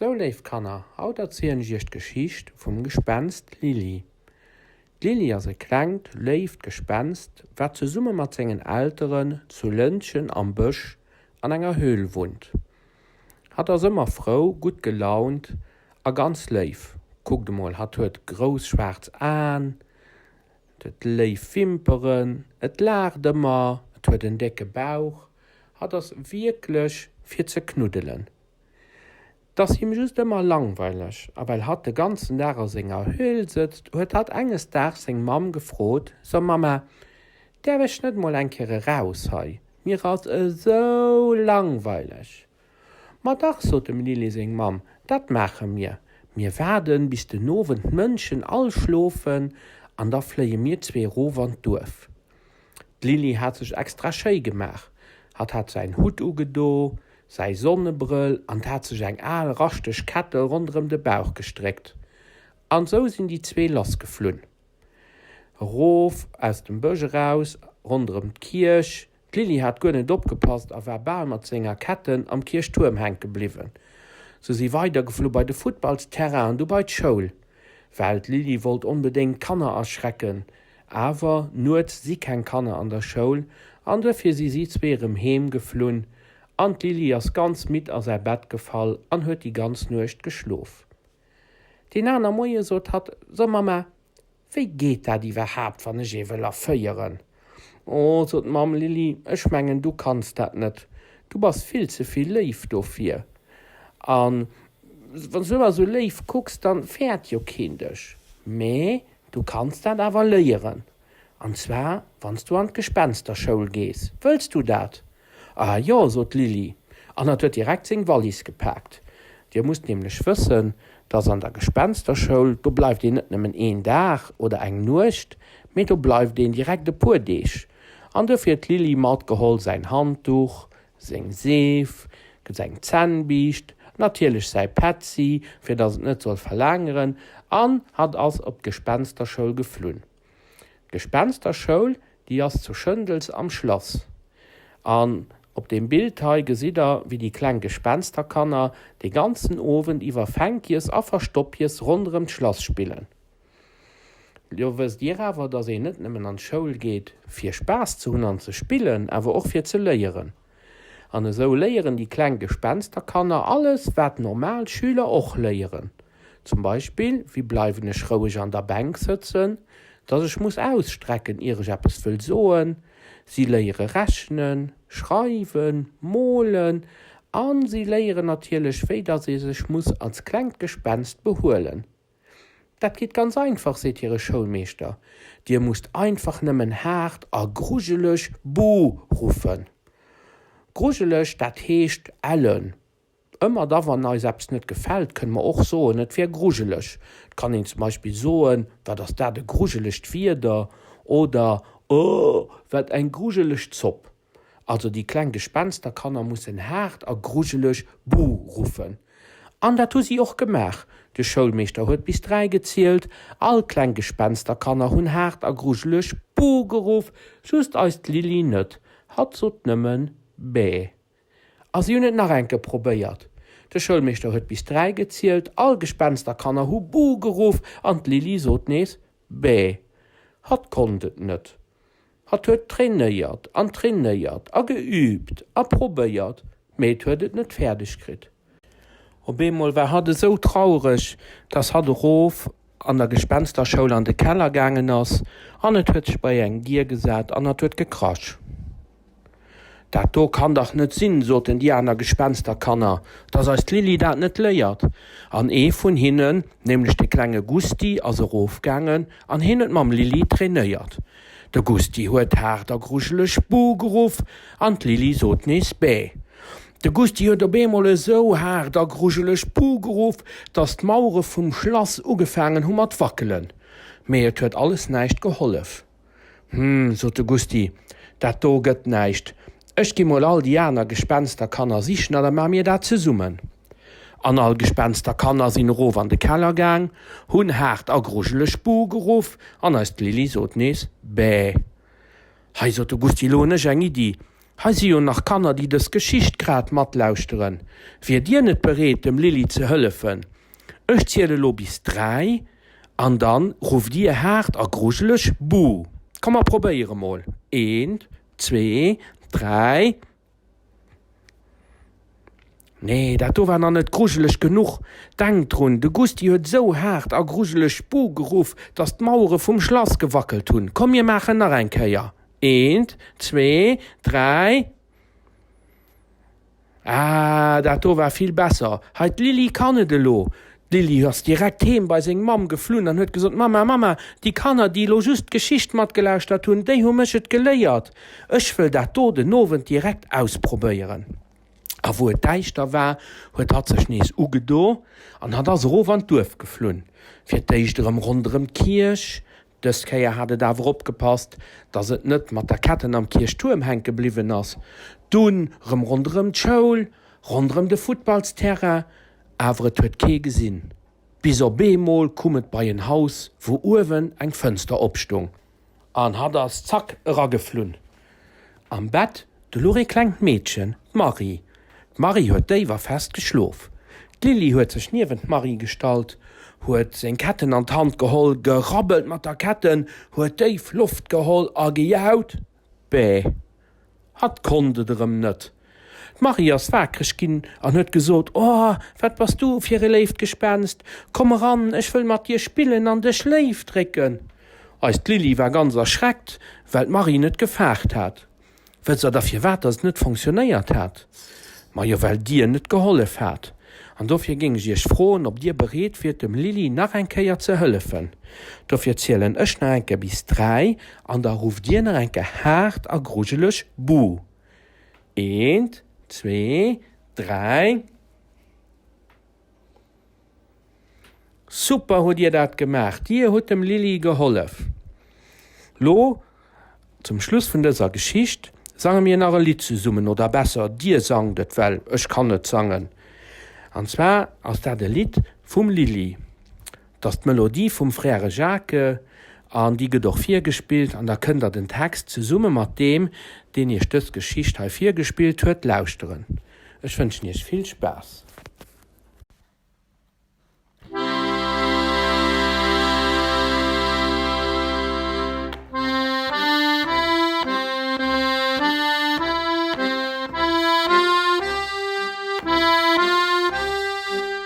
Sou léif Kanner, haut erzielen ech iech d'Geschicht vum Gespenst Lili. D'Lili ass e klengt, léift Gespenst, wat zesumme mat sengen Elteren zu Lëntgen am Bësch an enger Höhl wunnt. Hatt ass ëmmer frou, gutt gelaunt a ganz léif. Kuckt emol, hatt huet grouss schwaarz Aen, et huet léif Wimperen, et laacht ëmmer, et huet en décke Bauch Hat ass wierklech fir ze knuddelen. 't ass him just ëmmer langweileg, a well hatt de ganzen Dag a senger Höhl sëtzt, huet hatt enges Daags seng Mamm gefrot, So Mamma, däerf ech net mol eng Kéier eraus hei, mir ass esou langweileg. Ma dach, sot dem Lilly seng Mamm, dat maache mir. Mir waarden, bis den Owend d'Mënschen all schlofen an da fléie mir zwee erof an d'Duerf. D'Lilly hat sech extra schéi gemaach. Hatt hat säin Hutt ugedo, säi Sonnebrëll an d'hat sech eng al raschteg Kettel ronderëm de Bauch gestréckt. An esou sinn déi zwee lassgeflunn. Erof aus dem Bësch eraus, ronderëm d'Kierch. D'Lili hat guer net opgepasst a war bal mat senger Ketten am Kierchtuerm hänke bliwwen. Se si weidergeflu bei de Futtballsterrain an du bei d'Schoul, well d'Lili wollt onbedéngt d'Kanner erschrecken. Awer nuets si keng Kanner an der Schoul an duerfir si si zwee erëm heem geflunn an d'Lili ass ganz midd a säi Bett gefall an huet déi ganz Nuecht geschlof. Deen aner Moie sot hatt, So Mamma, Wéi geet dat iwwerhaapt, wann ech ee wëll erféieren? O, sot d'Mamm, Lili, ech mengen, du kanns dat net. Du bass vill ze vill léif dofir. A wann s du ëmmer esou léif kucks, da fäert jo keen dech. Mä du kanns dat awer léieren. An zwar, wann s du an d'Gespensterschoul gees. Wëlls du dat? Ah jo, sot d'Lili an hat huet direkt seng Wallis gepaakt. Dir musst nämlech wëssen, dass an der Gespensterschoul, do bleift een net nëmmen een Dag oder eng Nuecht, mee do bleift een direkt e puer Deeg. An duerfir huet d'Lili matgeholl säin Handduch, seng Seef, seng Zännbiischt, natierlech säi Petzi, fir dass et net soll verlaangeren, an hat ass op d'Gespensterschoul geflunn. D'Gespensterschoul déi ass zu Schëndels am Schlass. An op deem Bild hei gesitt der wéi déi kleng Gespensterkanner de ganzen Owend iwwer Fänkies a Verstoppies ronderëm d'Schlass spillen. Lo wësst dir awer, dass een net nëmmen an d'Schoul geet fir Spaass ze hunn an ze spillen, awer och fir ze léieren. An esou léieren déi kleng Gespensterkanner alles, wat normal Schüler och léieren. Zum Beispill, Wéi bleiwen ech roueg an der Bänk sëtzen? Dass ech muss ausstrecken, ier ech eppes wëll soen. Si léiere rechnen, schreiwen, molen a si léieren natierlech, wéi dass ee sech muss als klengt Gespenst behuelen. Dat geet ganz einfach, seet hire Schoulmeeschter, Dir musst einfach nëmmen haart a grujeleg Buh! ruffen. Grujeleg, dat heescht ellen. Ëmmer da wann eis eppes net gefält, kënne mer och soen, et wär grujeleg. Et kann een zum Beispill soen, Wat ass dat e grujelegt Wieder! oder Oh, wat eng grujeleg Zopp! Also déi kleng Gespensterkanner mussen haart a grujeleg Buh ruffen. An dat hu si och gemaach. De Schoulmeeschter huet bis dräi gezielt. All kleng Gespensterkanner hunn haart a grujeleg Buh geruff, just eist Lili net. Hatt sot nëmmen Bäh. A si hunn et nach enke probéiert. De Schoulmeeschter huet bis dräi gezielt. All Gespensterkanner hu Buh geruff an d'Lili sot nees Bäh. Hatt konnt et net. Hatt huet trainéiert an trainéiert a geüübt a probéiert, mee et huet et net fäerdeg kritt. Op eemol war hatt esou traureg, dass hatt erof an der Gespensterschoul an de Keller gaangen ass an et huet sech bei eng Dier gesat an hatt huet gekrasch. Dat do kann dach net sinn, soten déi aner Gespensterkanner, dass eis Lili dat net léiert. An ee vun hinnen, nämlech de klenge Gusti, ass erofgaangen an heen huet mam Lili trainéiert. De Gusti huet haart a grujeleg Buh geruff an d'Lili sot nees Bäh. De Gusti huet op eemol esou haart a grujeleg Buh geruff, dass d'Mauere vum Schlass ugefaangen hu mat wackelen. Mee et huet alles näischt gehollef. Hm, sot de Gusty, dat do gëtt näischt. Ech gi mol all déi aner Gespensterkanner sichen a da maache mir dat zesummen. An all Gespensterkanner sinn erof an de Keller gaang, hunn haart a grujeleg Buh geruff an eist Lili sot nees Bä. Hei, sot de Gusty, lo hunn ech eng Iddi. Hei si jo nach Kanner, déi dës Geschicht grad matlauschteren. Wiert Dir net bereet, dem Lili ze hëllefen? Ech ziele lo bis dräi. An dann rufft Dir haart a grujeleg, Buh! Komm, mer probéiere mol. Een, zwee, dräi. Nee, dat do war nach net grujeleg genuch. Denkt drun, de Gusti huet esou haart a grujeleg Buh! geruff, dass d'Mauere vum Schlass gewackelt hunn. Komm, mir maachen nach eng Kéier. Een, zwee, dräi. Ah, dat do war vill besser. Hei, d'Lili kann et elo. D'Lili ass direkt heem bei seng Mamm geflunn an huet gesot, Mamma, Mamma, déi Kanner, déi elo just d'Geschicht matgelauschtert hunn, déi hu mech et geléiert. Ech wëll dat do den Owend direkt ausprobéieren. A wou et däischter war, huet hatt sech nees ugedo an hatt ass erof an d'Duerf geflunn. Fir d'éischt erëm ronderëm d'Kierch, Dës Kéier hat et awer opgepasst, dass et net mat der Ketten am Kierchtuerm hänke bliwwen ass. Dunn rëm ronderëm d'Schoul, ronderëm de Futtballsterrain, awer et huet kee gesinn. Bis op eemol kumm et bei en Haus, wou uewen eng Fënster opstung. An hatt ass zack erageflunn. Am Bett, do luch ee klengt Meedchen, d'Marie. D'Marie huet déif a fest geschlof. D'Lili huet sech niewent d'Marie gestallt, huet seng Ketten an d'Hand geholl, gerabbelt mat der Ketten, huet déif Loft geholl a gejaut, Bäh! Hatt konnt et erëm net. D'Marie ass waakreg ginn an huet gesot, O, wat bass du fir e léift Gespenst! Komm eran, ech wëll mat dir spillen an dech léif drécken. Eist Lili war ganz erschreckt, well d'Marie net gefaart hat. Wësst der da firwat datt et net fonctionnéiert hat? Majo, well dir net gehollef hat. An dofir géing ech iech froen, ob dir bereet wiert, dem Lili nach eng Kéier ze hëllefen. Dofir zielen ech nach eng Kéier bis dräi an da rufft dir nach eng Kéier haart a grujeleg Buh! Eent, zwee, dräi. Super hutt Dir dat gemaach! Dir hutt dem Lili gehollef. Lo, zum Schluss vun dëser Geschicht, sange mir nach e Lidd zesummen, oder besser, Dir sangt et, well ech kann net sangen. An zwar ass dat e Lidd vum Lili. Et ass d'Melodie vum Frère Jacques an déi gëtt och virgespillt an da kënnt der den Text zesumme mat deem, deen iech dës Geschicht hei virgespillt huet, lauschteren. Ech wënschen iech vill Spaass.